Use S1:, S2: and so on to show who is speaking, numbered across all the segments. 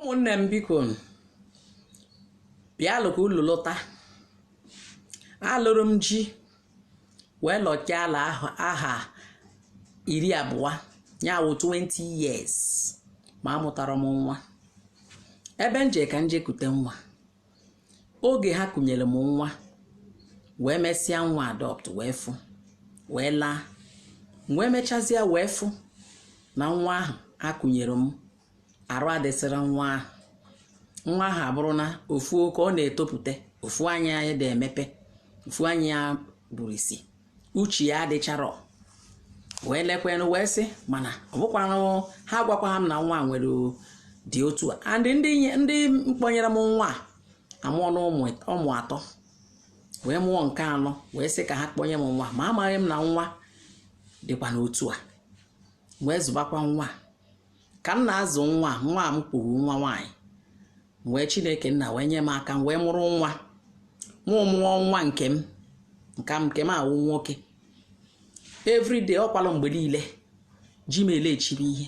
S1: ụmụnne m biko bịalụ ka ulu lụta alụrụ m ji wee lọchaa la aha iri abụọ nya wụ 20 years ma amụtara m nwa ebe nje ka nje kute nwa oge ha kunyere m nwa wee mesịa nwa adopt wee fụ wee laa m wee mechazịa wee fụ na nwa ahụ ha kunyere m arụ adịsịrị nwa ahụ nwa ahụ abụrụ na ofu oke ọ na-etopụta ofu anya ya dị emepe ofu anya ya bụrụ isi uche ya adịchara wee lekwenụ wee sị mana ọ bụkwanụ ha gwakwa m na nwa nwere dị otu a and ndị kpọnyere m nwa amụọna ụmụ atọ wee mụọ nke anọ wee sị ka ha kpọnye m nwa ma amaghị m na nwa dịkwanụ otu a wee zụbakwa nwa ka m na-azụ nwa nwa m kuru nwa nwaanyị wee chineke nna wee nye m aka m wee mụrụ nwa mụ mụọ nwa nke m nke m awụ nwoke everyday ọ kwalụ mgbe niile ji m elechiri ihe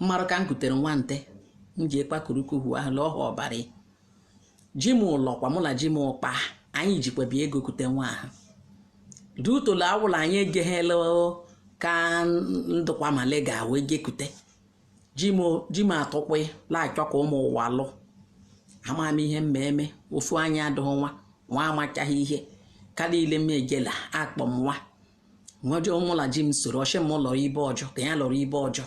S1: mmarụ ka m kutere nwa nte m ji ekpakụrụkuhu ahụ lụọ ha ọbara Ji m ụlọkwa mụ la ji m ụkpa anyị jikwabi ego kute nwa ahụ dị utolo awụla anyị egeghele ka ndụkwa male ga wee je kute ji m ji m atụkwe la-achọ ka ụmụ ụwa lụ ama m ihe m ma-eme ofu anya adịghị nwa nwa amachaghị ihe ka niile m ejela akpọ m nwa nwajo mụla ji m soro ọ chị m lọrọ ibe ọjọ ka ya lọrọ ibe ọjọ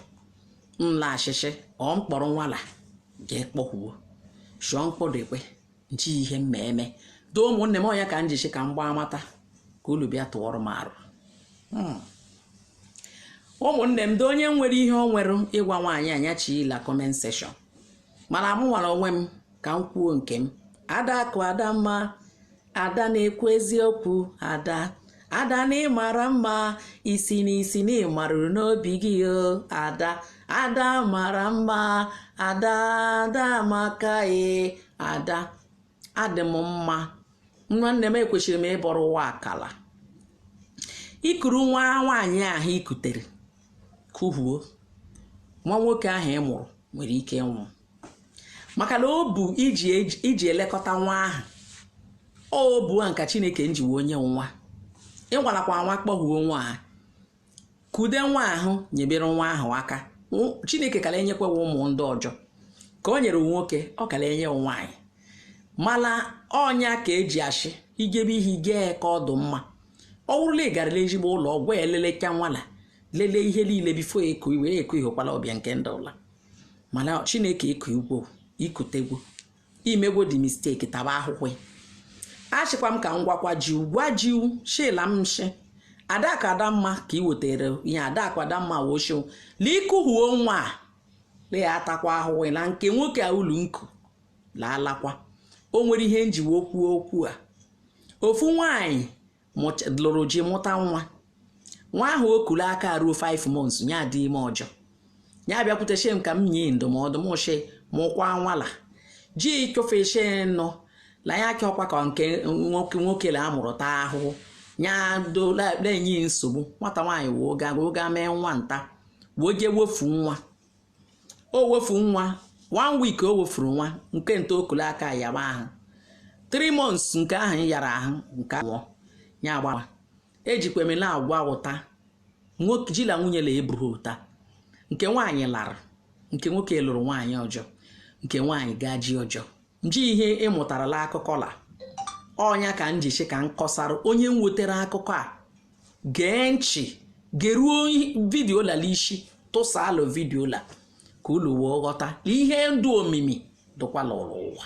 S1: nla achịchị ọ m kpọrọ nwa la jee kpọhuo chụọ m kpọdekwe nchi ihe m ma-eme doo ụmụnne m ọnya ka m ji chị ka m gbaa mata ka ulu bịa tụọrọ m arọ hmm. ụmụnne m doo onye nwere ihe o nwere ịgwa nwaanyị a nya chị la comment section mana mụwara onwe m ka m kwuo nke m ada akụ ada mma ada na-ekwu eziokwu ada ada na ị mara mma isi na isi na ị maruru n'obi gị o ada ada mara mma ada ada maka e ada adị m mma nwanne m ekwesịrị m ịbọrọ ụwa akala i kuru nwa nwaanyị ahụ i kutere kuhuo nwa nwoke ahụ ị mụrụ nwere ike ịnwụ maka na obu i ji i ji elekọta nwa ahụ obu a ka chineke njiwe onye nwa ị nwalakwa anwa kpọhuo nwa ha kude nwa ahụ nyebere nwa ahụ aka chineke kala enyekwa ụmụ ndị ọjọ ka o nyere nwoke ọ kala enye nwaanyị mana ọnya ka e ji achị i gebe ihe gee ka ọ dụ mma ọ bụrụ la ị gara la ezigbo ụlọ ọgwụ elelecha nwa la lelee ihe niile before eko iwe eko ihokwala ọbịa nke ndị ụla mana chineke ikugwo ikutegwo imegwo dị mistake taba ahụhụ ashịkwa m ka m gwakwa jiw gwa jiw shị la m shị adaka adamma ka ị wetara ihe adaka adamma ọ shị la i kuhuo nwa a lee atakwa ahụhụ na nke nwoke a ulu nku laalakwa o nwere ihe m ji wee kwuo okwu a ofu nwanyị lụrụ ji mụta nwa nwa ahụ o ku l'aka ruo 5 months ya dị ime ọjọ ya bịakwute shị m ka m nye ndụmọdụ m shị mụkwa nwa la ji chụfe shị no na ya chọkwa ka nke nwoke la amụrụ taa ahụhụ ya dola enye nsogbu nwata nwaanyị wee gaa mee nwa nta wee jee wofu nwa o wofu nwa one week o wofuru nwa nke nta o ku l'aka yaba ahụ three months nke ahụ yara ahụ nke nwụọ ya agbawa ejikwa m na-agwa ụta nwoke ji la nwunye la eburu ụta nke nwaanyị lara nke nwoke lụrụ nwaanyị ọjọ nke nwaanyị gaa ji ọjọ nji ihe ị mụtara la akụkọ la ọ nya ka m ji shị ka m kọsara onye nwetara akụkọ a gee nchị geruo vidiyo la n'isi tụsaalụ vidiyo la ka unu wee ghọta na ihe dụ omimi dụkwa la ụwa